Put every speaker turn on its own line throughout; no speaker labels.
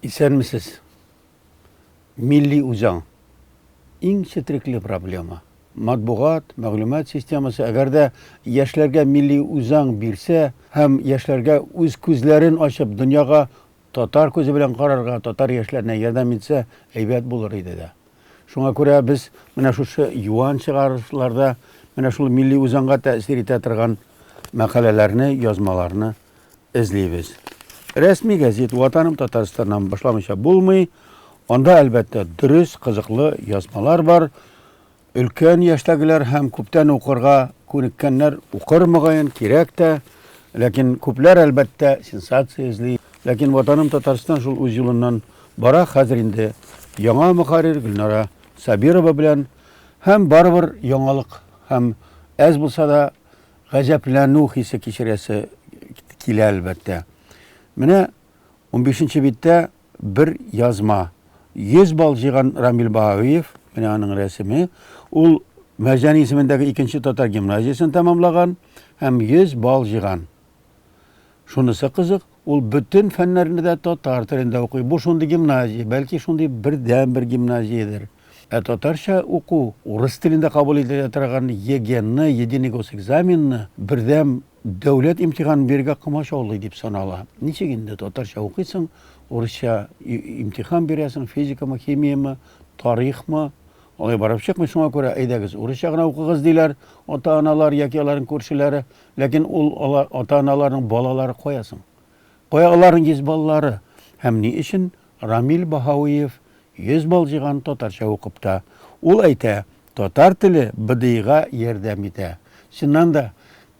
Исәнмесез. Милли үзаң. Иң четрекле проблема. Матбугат, мәгълүмат системасы, әгәр дә яшьләргә милли үзаң бирсә һәм яшьләргә үз күзләрен ачып, дөньяга татар күзе белән карарга, татар яшьләренә ярдәм итсә, әйбәт булыр иде дә. Шуңа күрә без менә шушы юан чыгарылышларда менә шул милли үзаңга тәэсир итә торган мәкаләләрне, язмаларны эзлибез. Рәсми гәзит Ватаным Татарстаннан башламыйча булмый. Анда, әлбәттә, дөрес, кызыклы язмалар бар. Өлкән яшьтәгеләр һәм күптән укырга күнеккәннәр укыр мөгаен, кирәк тә. Ләкин күпләр, әлбәттә, сенсация эзли. Ләкин Ватаным Татарстан шул үз юлыннан Бара хәзер инде яңа мөхәррир Гөлнара Сабирова белән һәм барыбер яңалык һәм әз булса да гаҗәпләнү хисе кичерәсе килә әлбәттә. Менә 15 нче биттә бер язма. 100 балл җыйган Рамил Баһаөев, менә аның рәсеме. Ул Мәрҗән исемендәге икенче татар гимназиясен тәмамлаган һәм 100 балл җыйган. Шунысы кызык, ул бөтен фәннәрне дә татар телендә укый. Бу шундый гимназия, бәлки шундый бердәнбер гимназиядер. Ә татарча уку, урыс телендә кабул ителә торган ЕГЭны, Единый госэкзаменны, бердәм дәүләт имтиханын бирергә комачаулый дип санала. Ничек инде татарча укыйсың, урысча имтихан бирәсең, физикамы, химиямы, тарихмы? Алай барып чыкмый, шуңа күрә әйдәгез, урысча гына укыгыз, диләр ата-аналар яки аларның күршеләре. Ләкин ул алар, ата-аналарның балалары кая соң? Кая аларның йөз баллары? Һәм ни өчен Рамил Баһауиев йөз балл җыйган татарча укып та? Ул әйтә, татар теле БДИга ярдәм итә. Чыннан да,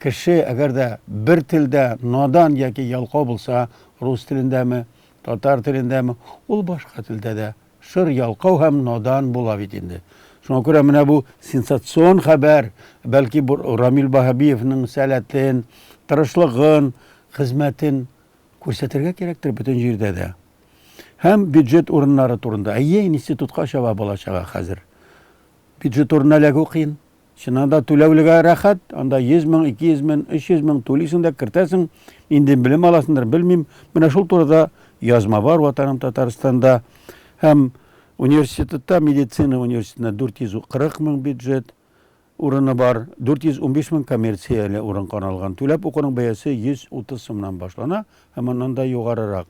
кеше, әгәр дә бер телдә надан яки ялкау булса, рус телендәме, татар телендәме, ул башка телдә дә, Шыр ялкау һәм надан була бит инде. Шуңа күрә менә бу сенсацион хәбәр, бәлки бу Рамил Баһабиевның сәләтен, тырышлыгын, хезмәтен күрсәтергә кирәктер бөтен җирдә дә. Һәм бюджет урыннары турында. Әйе, институтка чаба бала-чага хәзер. Бюджет урынына эләгү кыен. Чыннан да түләүлегә рәхәт, анда 100 мең, 200 мең, 300 мең түлисең дә кертәсең, инде белем аласыңдыр, белмим. Менә шул турыда язма бар Ватаным Татарстанда һәм университетта медицина университетында 440 мең бюджет урыны бар, 415 мең коммерцияле урын каралган. Түләп укуның бәясе 130 сумнан башлана һәм аннан да югарырак.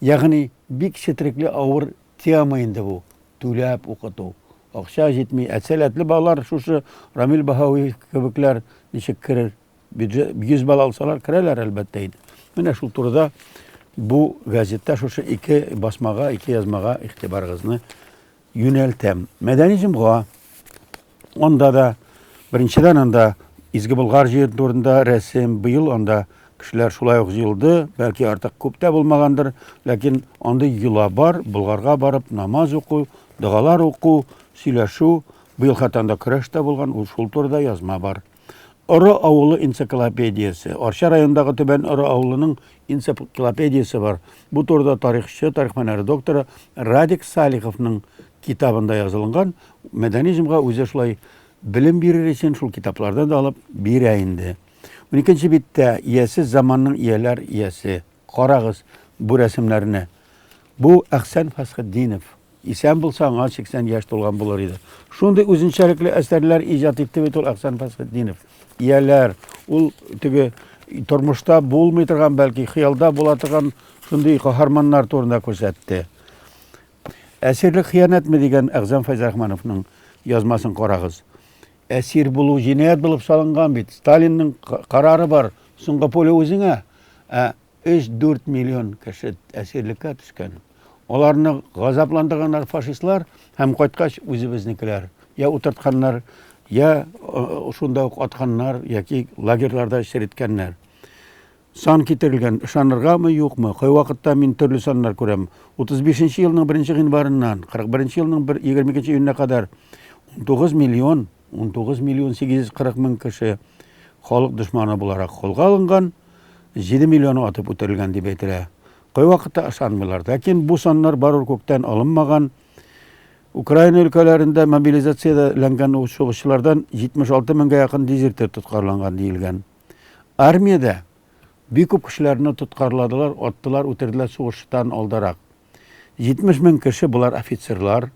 Ягъни бик четерекле авыр Тема инде бу, түләп укыту. Акча җитми, ә сәләтле балалар шушы Рамил Баһауиев кебекләр ничек керер? Бюджет 100 бала алсалар, керәләр әлбәттә инде. Менә шул турыда бу газетта шушы ике басмага, ике язмага игътибарыгызны юнәлтәм. Мәдәни җомга. Анда да беренчедән анда Изге Болгар җир турында рәсем, быел анда кешеләр шулай ук җыелды, бәлки артык күп тә булмагандыр, ләкин андый йола бар, Болгарга барып намаз уку, догалар уку, сөйләшү, быел хәтта анда көрәш тә булган, ул шул турыда язма бар. Оры авылы энциклопедиясе. Арча районындагы Түбән Оры авылының энциклопедиясе бар. Бу турыда тарихчы, тарих фәннәре докторы Радик Салиховның китабында язылган. Мәдәни җомга үзе шулай белем бирер өчен шул китаплардан да алып бирә инде. Уникенче биттә иясез заманның ияләр иясе. Карагыз бу рәсемнәрне. Бу Әхсән Фәсхетдинов. Исән булса, аңа 80 яшь тулган булыр иде. Шундый үзенчәлекле әсәрләр иҗат итте бит ул Әхсән Фәсхетдинов. Ияләр, ул теге тормышта булмый торган, бәлки хыялда була торган шундый каһарманнар турында күрсәтте. Әсирлек хыянәтме дигән Әгъзам Фәйзрахмановның язмасын карагыз. Әсир булу җинаять булып салынган бит. Сталинның карары бар. Соңгы пуля үзеңә. Ә Өч-дүрт миллион кеше әсирлеккә төшкән. Аларны газапландырганнар фашистлар һәм кайткач үзебезнекеләр я утыртканнар, я шунда ук атканнар яки лагерьларда череткәннәр. Сан китерелгән, ышаныргамы, юкмы, кайвакытта мин төрле саннар күрәм. 35 нче елның 1 нче гыйнварыннан 41 нче елның 22 нче июненә кадәр 19 миллион, 19 миллион 840 мең кеше халык дошманы буларак кулга алынган. 7 миллион атып үтерелгән дип әйтелә. Кайвакытта ышанмыйлар. Ләкин бу саннар барыбер күктән алынмаган. Украина өлкәләрендә мобилизациядә ләнгән сугышчылардан 76 меңгә якын дезертир тоткарланган диелгән. Армиядә бик күп кешеләрне тоткарладылар, аттылар, үтерделәр сугыштан алдарак. 70 мең кеше, болар офицерлар,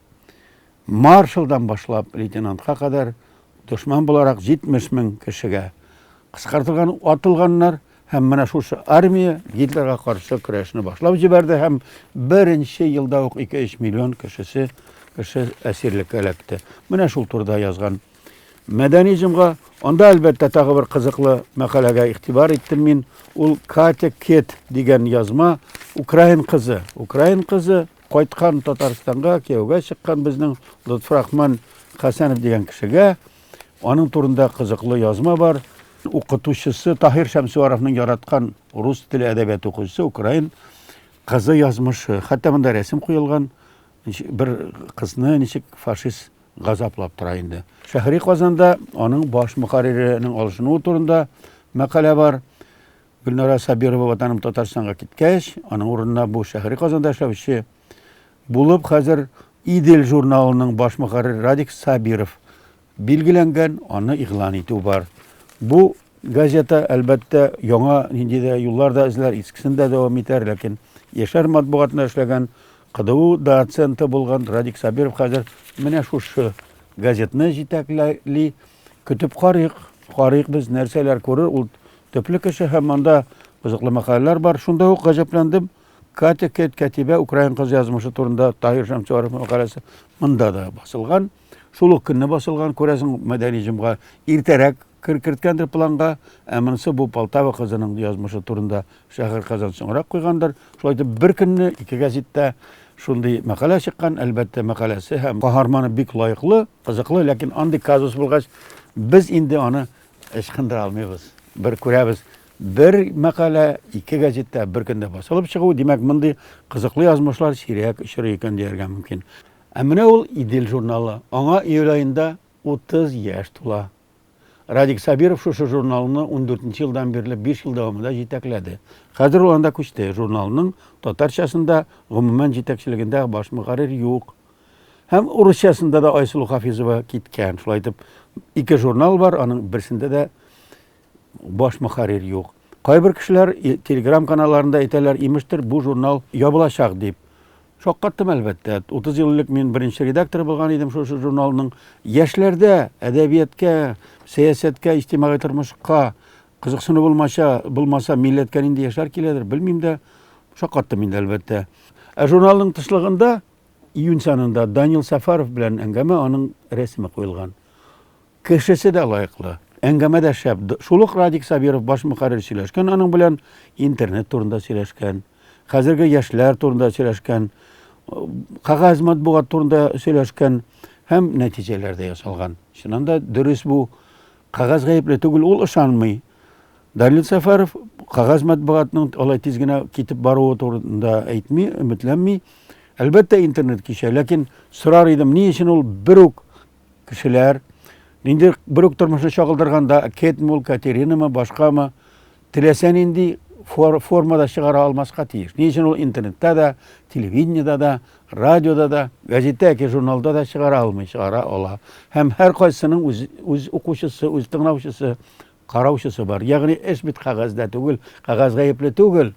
маршалдан башлап лейтенантка кадәр, дошман буларак 70 мең кешегә кыскартылган, атылганнар һәм менә шушы армия Гитлерга каршы көрәшне башлап җибәрде һәм беренче елда ук 2-3 миллион кешесе кеше әсирлеккә эләкте. Менә шул турыда язган Мәдәни җомга, анда әлбәттә тагы бер кызыклы мәкаләгә игътибар иттем мин. Ул Катя Кет дигән язма, украин кызы. Украин кызы кайткан Татарстанга, кияүгә чыккан безнең Лотфрахман Хәсәнов дигән кешегә. Аның турында кызыклы язма бар. Укытучысы Таһир Шәмсуаровның яраткан рус теле әдәбияты укучысы украин кызы язмышы. Хәтта монда рәсем куелган бер кызны ничек фашист газаплап тора инде. Шәһри Казанда аның баш мөхәрриренең алышынуы турында мәкалә бар. Гөлнара Сабирова ватаным Татарстанга киткәч, аның урынына бу шәһри Казанда эшләүче булып хәзер Идел журналының баш мөхәррире Радик Сабиров билгеләнгән, аны игълан итү бар. Бу газета, әлбәттә, яңа нинди дә юллар да эзләр, искесен дә дәвам итәр, ләкин яшәр матбугатында эшләгән КДУ доценты булган Радик Сабиров хәзер менә шушы газетны җитәкләли. Көтеп карыйк, карыйк без нәрсәләр күрер. Ул төпле кеше һәм монда кызыклы мәкаләләр бар. Шунда ук гаҗәпләндем. Катя Кет Кәтибә украин кыз язмышы турында Таһир Шәмсуаров мәкаләсе монда да басылган. Шул ук көнне басылган, күрәсең, мәдәни җомга иртәрәк керткәндер планга, ә монысы бу Полтава кызының язмышы турында шәһәр Казан соңрак куйгандыр. Шулай итеп, бер көнне ике газеттә шундый мәкалә чыккан, әлбәттә, мәкаләсе һәм каһарманы бик лаеклы, кызыклы, ләкин андый казус булгач, без инде аны ычкындыра алмыйбыз. Бер күрәбез, бер мәкалә ике газеттә бер көндә басылып чыгу, димәк, мондый кызыклы язмышлар сирәк очрый икән дияргә мөмкин. Ә менә ул Идел журналы. Аңа июль аенда 30 яшь тула. Радик Сабиров шушы журналны ундүртенче елдан бирле биш ел дәвамында җитәкләде. Хәзер ул анда күчте, журналның татарчасында гомумән җитәкчелегендә баш мөхәррир юк. Һәм урысчасында да Айсылу Хафизова киткән. Шулай итеп, ике журнал бар, аның берсендә дә Баш мөхәррир юк. Кайбер кешеләр Telegram каналларында әйтәләр, имештер, бу журнал ябылачак дип. Шаккаттым, әлбәттә. 30 ел элек мин беренче редактор булган идем шушы журналның. Яшьләрдә әдәбияткә, сәясәткә, иҗтимагый тормышка кызыксыну булмаса, булмаса милләткә нинди яшьләр киләдер, белмим дә. Шаккаттым инде, әлбәттә. Ә журналның тышлыгында июнь санында Данил Сафаров белән әңгәмә, аның рәсеме куелган. Кешесе дә лаеклы, әңгәмә дә шәп. Шул ук Радик Сабиров баш мөхәррир сөйләшкән, аның белән интернет турында сөйләшкән, хәзерге яшьләр турында сөйләшкән, кәгазь матбугат турында сөйләшкән һәм нәтиҗәләр дә ясалган. Чыннан да дөрес бу. Кәгазь гаепле түгел, ул ышанмый. Данил Сәфәров кәгазь матбугатның алай тиз генә китеп баруы турында әйтми, өметләнми. Әлбәттә, интернет кичә, ләкин сорар идем, ни өчен ул бер үк кешеләр инде бер үк тормышны чагылдырганда кетме ул катеринамы башкамы теләсә нинди формада чыгара алмаска тиеш ни өчен ул интернетта да телевидениеда да радиода да газетта яки журналда да чыгара алмый чыгара ала һәм һәркайсының үз үз укучысы үз тыңлаучысы Караучысы бар. Ягъни эш бит кәгазьдә түгел, кәгазь гаепле түгел.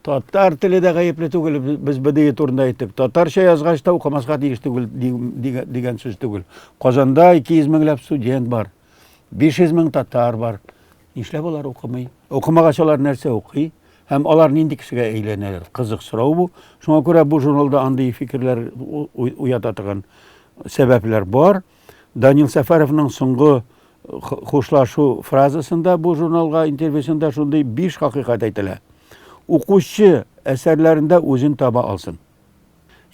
Татар теле дә гаепле түгел, без БДИ турында әйттек. Татарча язгач та укымаска тиеш түгел дигән сүз түгел. Казанда 200 меңләп студент бар. 500 мең татар бар. Нишләп алар укымый? Укымагач алар нәрсә укый? Һәм алар нинди кешегә әйләнәләр? Кызык сорау бу. Шуңа күрә бу журналда андый фикерләр уята торган сәбәпләр бар. Данил Сәфәровның соңгы хушлашу фразасында бу журналга интервьюсында шундый биш хакыйкать әйтелә. Укучы әсәрләрендә үзен таба алсын.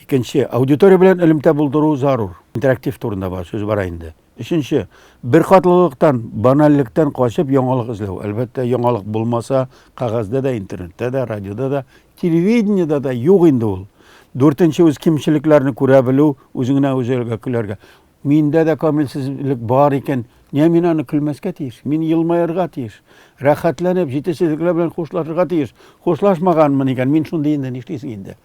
Икенче, аудитория белән элемтә булдыру зарур. Интерактив турында бар, сүз бара инде. Өченче, бер катлылыктан, банальлектән качып яңалык эзләү. Әлбәттә, яңалык булмаса, кагазьдә дә, интернетта да, радиода да Телевидениедә дә юк инде ул. Дүртенче үз кимчелекләрне күрә белү, үзеңнән үзегә көләргә. Миндә дә камилсезлек бар икән, нигә мин аны көлмәскә тиеш? Мин елмаерга тиеш. Рәхәтләнеп, җитешсезлекләр белән хушлашырга тиеш. Хушлашмаганмын икән, мин шундый инде, нишлисең инде?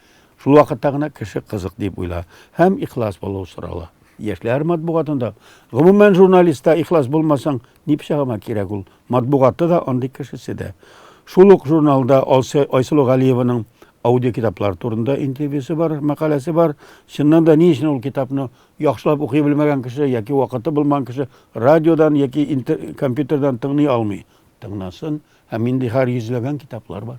Шул вакытта гына кеше кызык дип уйла һәм ихлас булу сорала. Яшьләр матбугатында, гомумән журналистта ихлас булмасаң, Ни пычагыма кирәк ул? Матбугаты да, андый кешесе дә. Шул ук журналда Айсылу Галиеваның аудиокитаплар турында интервьюсы бар, мәкаләсе бар. Чыннан да ни өчен ул китапны яхшылап укый белмәгән кеше яки вакыты булмаган кеше радиодан яки компьютердан тыңлый алмый? Тыңласын. Һәм инде һәр йөзләгән китаплар бар.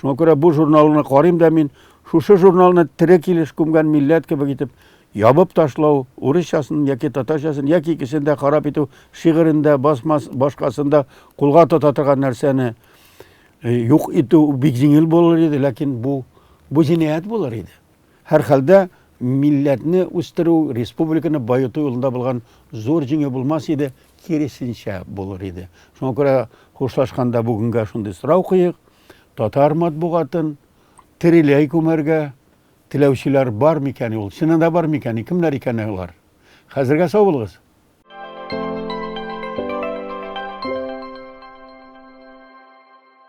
Шуңа күрә бу журналны карыйм да мин, шушы журналны тере килеш күмгән милләт кебек итеп ябып ташлау, урысчасын яки татарчасын яки икесен дә харап итү, шигырен дә, басмас, башкасын да кулга тота торган нәрсәне юк итү бик җиңел булыр иде, ләкин бу бу җинаять булыр иде. Һәрхәлдә, милләтне үстерү, республиканы баету юлында булган зур җиңү булмас иде, киресенчә, булыр иде. Шуңа күрә хушлашканда бүгенгә шундый сорау куйыйк, татар матбугатын тереләй күмәргә теләүчеләр бар микәни ул? Чыннан да бар микәни? Кемнәр икән алар? Хәзергә сау булыгыз!